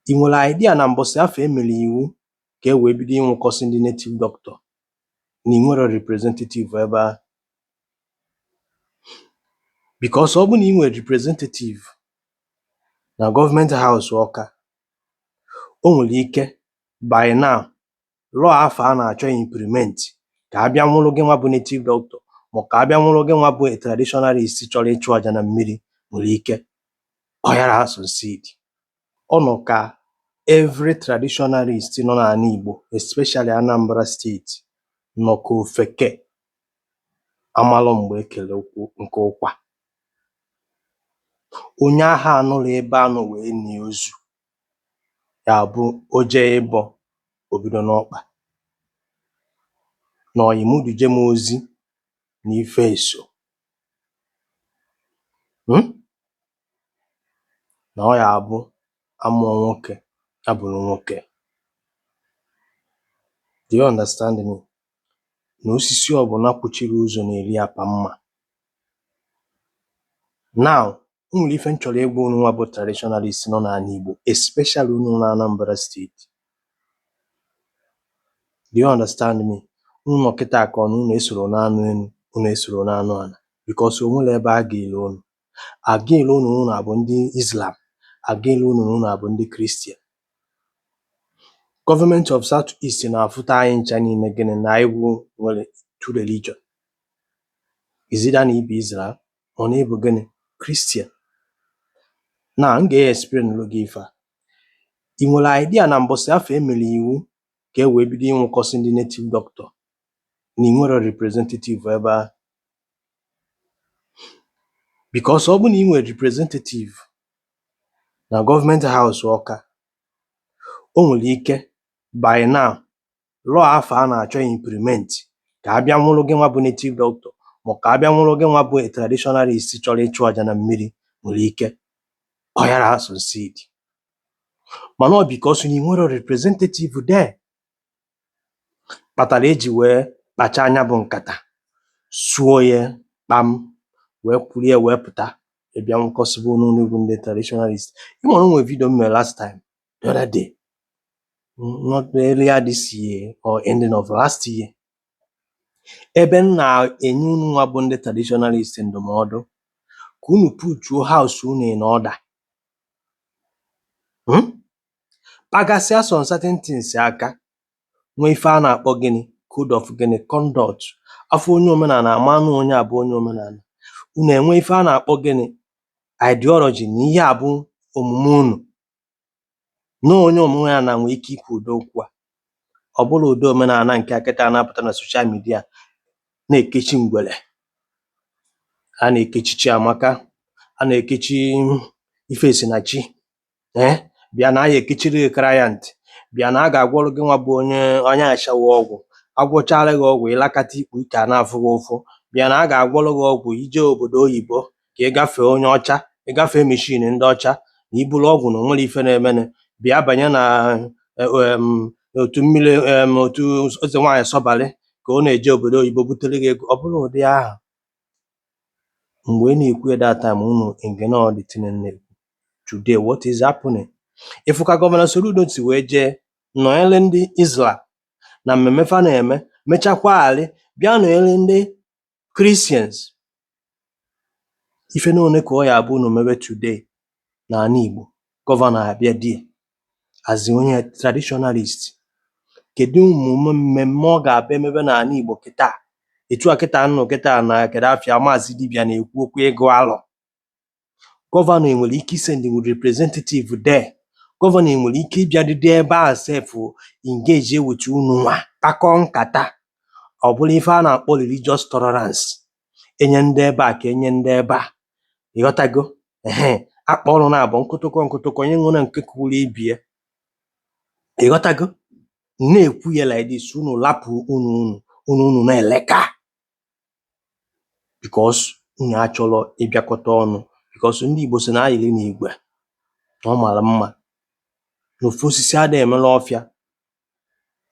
I nwere idea na mbọsị afụ e mere iwu ka e wee bido ịnwụkọsị ndị native doctor na ị nwerọ representative ebe a because ọ bụ na ị nwere representative na gọọmenti haus Ọka o nwere ike by now law afụ a na-achọ implement ka a bịa nwụrụ gị nwa bụ native doctor ma ka a bịa nwụrụ gị nwa bụ traditionalist chọrọ ịchụ aja na mmiri nwere ike ọ yara asucceed ọ nọ ka every traditionalist nọ n'ala Igbo especially Anambra steeti nọ ka ofeke amalọ mgbe e kele nkụ ụkwa onye ahụ anọrọ ebe a nọ wee nie ozu ya bụ o jee ịbọ o bido n'ọkpa na ọyị m duje m ozi na ife eso m na ọ ya abụ a mụọ nwoke a bụrụ nwoke do you understand me na osisi ọbụla kwụchiri ụzọ na-eri apa mma now o nwere ife m chọrọ ịgwa unu nwa bụ traditionalist nọ n'ala Igbo especially unu na Anambra steeti do you understand me unu nọ kịta ka ọ na unu esoro n'anụ enu unu esoro n'anụ ala because o nwere ebe a ga-ele unu a ga-ele unu unu abụ ndị Islam a ga-ele unu unu abụ ndị Kristian gọọmenti of South East na-afụta anyị ncha niile gịnị na Igbo nwere two religion it's either na ị bụ Islam Or na ị bụ gịnị? Kristian. Na m ga-explainụrụ gị ife a. Ị nwere idea na mbọsị afụ e mere iwu ka e wee bido ịnwụkọsị ndị native doctor na ị nwerọ representative ebe a because ọ bụ na ị nwere representative na gọọmenti haus ọka o nwere ike by now law afụ a na-achọ implement ka a bịa nwụrụ gị nwa bụ native doctor ma ka a bịa nwụrụ gị nwa bụ traditionalist chọrọ ịchụ aja na mmiri nwere ike ọ yara asucceed mana ọ because na ị nwerọ representative there kpatara eji wee kpacha anya bụ nkata suo ya kpam wee kwuru ya wee pụta ịbịa nwụkọsịbe unu bụ ndị traditionalist ị mara o nwe vidio m mere last time the other day not earlier this year or ending of last year ebe m na-enye unu nwa bụ ndị traditionalist ndụmọdụ ka unu putuo house unu in order hmm? pagasịa some certain things aka nwee ife a na-akpọ gịnị code of gịnị conduct a fụ onye omenala a ma na onye a bụ onye omenala unu enwe ife a na-akpọ gịnị ideology na ihe a bụ omume unu na onye omenala nwee ike ikwu ụdị okwu a. Ọ bụrụ ụdị omenala nke a kịta na-apụta na soshal midia na-ekechi ngwere, a na-ekechi Chiamaka, a na-ekechi Ifesinachi ee bịa na a ya ekechiri gị client, bịa na a ga-agwọrụ gị nwa bụ onye onye ashawo ọgwụ, a gwọchaara gị ọgwụ ịlakata ikpu ike a na-afụ gị ụfụ, bịa na a ga-agwọrụ gị ọgwụ ije obodo oyibo ka ị gafee onye ọcha ị gafee meshin ndị ọcha na iburu ọgwụ na onwere ife na-emenụ bịa banye na em, otu mmiri em, otu eze nwaanyị sọbalị ka ọ na-eje obodo oyibo butere gị ego ọ bụrụ ụdị ahụ mgbe ị na-ekwu ya that time unu ignore the thing na today what is happening ịfụ ka gọvanọ Soludo si wee jee nọnyere ndị Islam na mmemme fa na-eme mechakwaalị bịa nọnyere ndị Christians, ife n'one ka ọ ya abụ unu mebe today n'ala Igbo gọvanọ abịa there as onye traditionalist kedu ụmụ mmemme ọ ga-abịa emebe n'ala Igbo kịta etu a kịta m nụ kịta na kedu afịa maazị dibịa na-ekwu okwu ịgụ alọ gọvanọ enwere ike isend representative there gọvanọ enwere ike ịbịadịdị ebe a sef engage with unu nwa kpakọ nkata ọ bụrụ ife a na-akpọ religious tolerance enye ndị ebe a ka enye ndị ebe a ịghọtago ehe akpa ọrụ na-abụ nkụtụkọ nkụtụkọ onye nwere nke kwuru ibie ịghọtago na-ekwu ya like this unu lapụ unu unu unu unu na-eleka because unu achọrọ ịbịakọta ọnụ because ndị Igbo si na ayịrị na igwe na ọ mara mma na ofu osisi ada emela ọfịa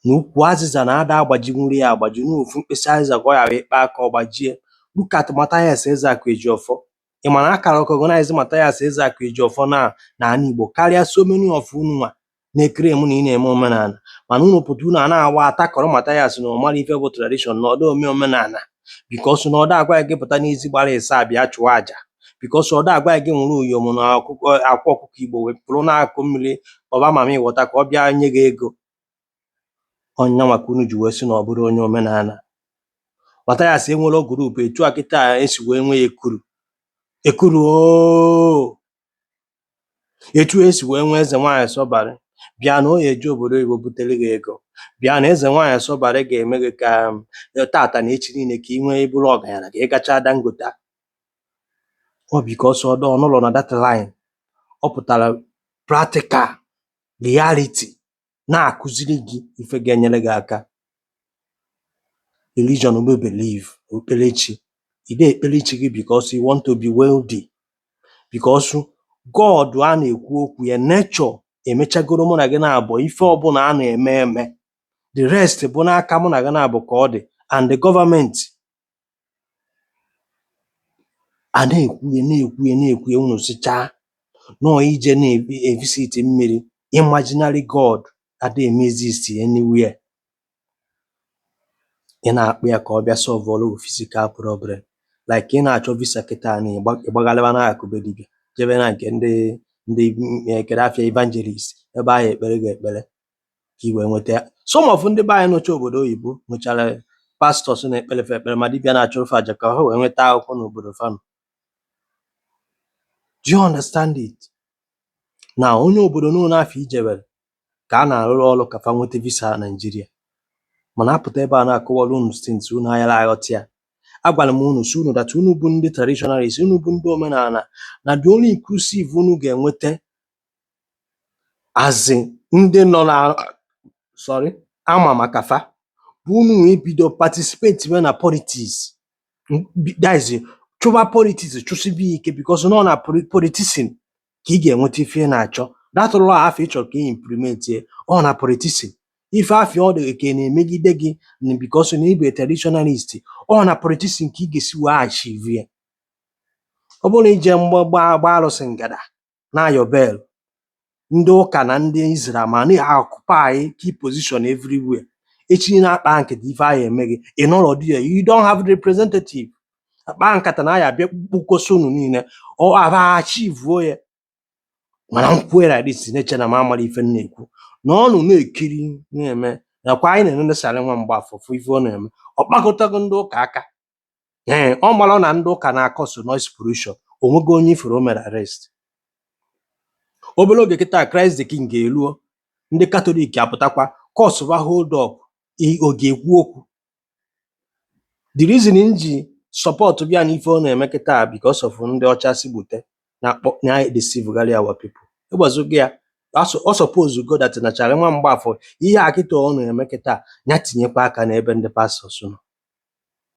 na ukwu azịza na ada agbajinwurị ya agbaji na ofu mkpịsị azịza ka ọ ya akpa aka ọ gbajie look at Matthias Ezeaku Ejiofor ị ma na a ka recognize Mathias Ezeaku Ejiofor na n'ala Igbo karịa so many of unu nwa na-eclaim na ị na-eme omenala mana unu pụta unu a na-awa atakọrọ Mathias na ọ mara ife bụ tradition na ọda eme omenala because na ọda agwa gị pụta n'ezi gbara ịsa bịa chụọ aja because ọda agwa gị nwụrụ uyom na akwa ọkụkọ Igbo wee pụrụ na-akụ mmiri ọba mami water ka ọ bịa nye gị ego ọ ya nwa ka unu ji wee sị na ọ bụrụ onye omenala Mathias enwere group etu a kịta esi wee nwee ekuru ekuru ooo etu esi wee nwee eze nwaanyị sọbarị bịa na ọ ya eje obodo oyibo butere gị ego bịa na eze nwaanyị sọbarị ga-eme gị ka um, tata na echi niile ka ị wee bụrụ ọgaranya ka ị gachaa Dangote ọ because ọda anọlọ na that line ọ pụtara practical reality na-akụziri gị ife ga-enyere gị aka religion bụ belief okpukperechi ị na-ekpere chi gị because you want to be wealthy because God a na-ekwu okwu ya nature emechagoro mụ na gị naabọ ife ọbụla a na-eme eme the rest bụ n'aka mụ na gị naabọ ka ọ dị and the government A na-ekwu ya, na-ekwu ya, na-ekwu ya, unu sịchaa na ọ ije na-evisit mmiri, imaginary God ada eme exist anywhere. Ị na-akpọ ya ka ọ bịa solvụọrọ gị physical problem. Like ị na-achọ visa kịta na ịgba ịgbagharịwa n'akụkụ be dibịa, jebe na nke ndị ndị mm, eh, kedu afa ya evangelist, ebe a ya-ekpere gị ekpere. ka i wee nweta ya some of ndị be anyị nọcha obodo oyibo nwechara pastors na-ekpere fa ekpere ma dibịa na-achụrụ fa aja ka ha wee nweta akwụkwọ n'obodo fa nọ do you understand it na onye obodo n'ụlọ afụ ijebere ka a na-arụrụ ọrụ ka fa nweta visa na Nigeria mana a pụta ebe a na-akọwara unu still unu ayara aghọta ya agwara m unu sị unu that unu bụ ndị traditionalist unu bụ ndị omenala na the only inclusive unu ga-enweta as in ndị nọ na sorry a ma maka fa bụ unu wee bido participatiwe na politics M- bi- that is chụba politics chụsibe ya ike because na ọ na poli- politician ka ị ga-enweta ife ị na-achọ that law afụ ị chọrọ ka ị implement ya ọ na politician ife afụ ọ dị ka a na-emegide gị na because na ị bụ traditionalist ọ na politician ka ị ga-esi wee achieve ya ọ bụrụ na i je mgba gbaa gbaa arụsị ngada na-ayọ bell, ndị ụka na ndị Islam ana-occupy key position everywhere. Echi a na-akpa nkata ife a ya-eme gị, ị nọrọ there, you don't have representative. A kpaa nkata na ya a bịa kpụkọsị unu niile, ọ aba achivuo ya. Mana m kwue like this na-eche na m amara ife m na-ekwu. Na ọnụ na-ekiri na-eme nakwa anyị na-enene Charlie nwa Mgbafọ fụ ife ọ na-eme. Ọ kpakatago ndị ụka aka ee ọ mara na ndị ụka na-akọsụ noise pollution o nwego onye ị fụrụ o mere arrest obere oge kịta Christ the King ga-eruo ndị katọlik apụtakwa kọsụba hold up i- ọ ga-ekwu okwu the reason m ji supportibe ya na ife ọ na-eme kịta because of ndị ọcha si gbute na-akpọ na-edeceivegharị our people ịgbazogo ya aso- ọ suppose go that na Charlie nwa Mgbafọ ihe a kịta ọ na-eme kịta ya tinyekwa aka n'ebe ndị pastors nọ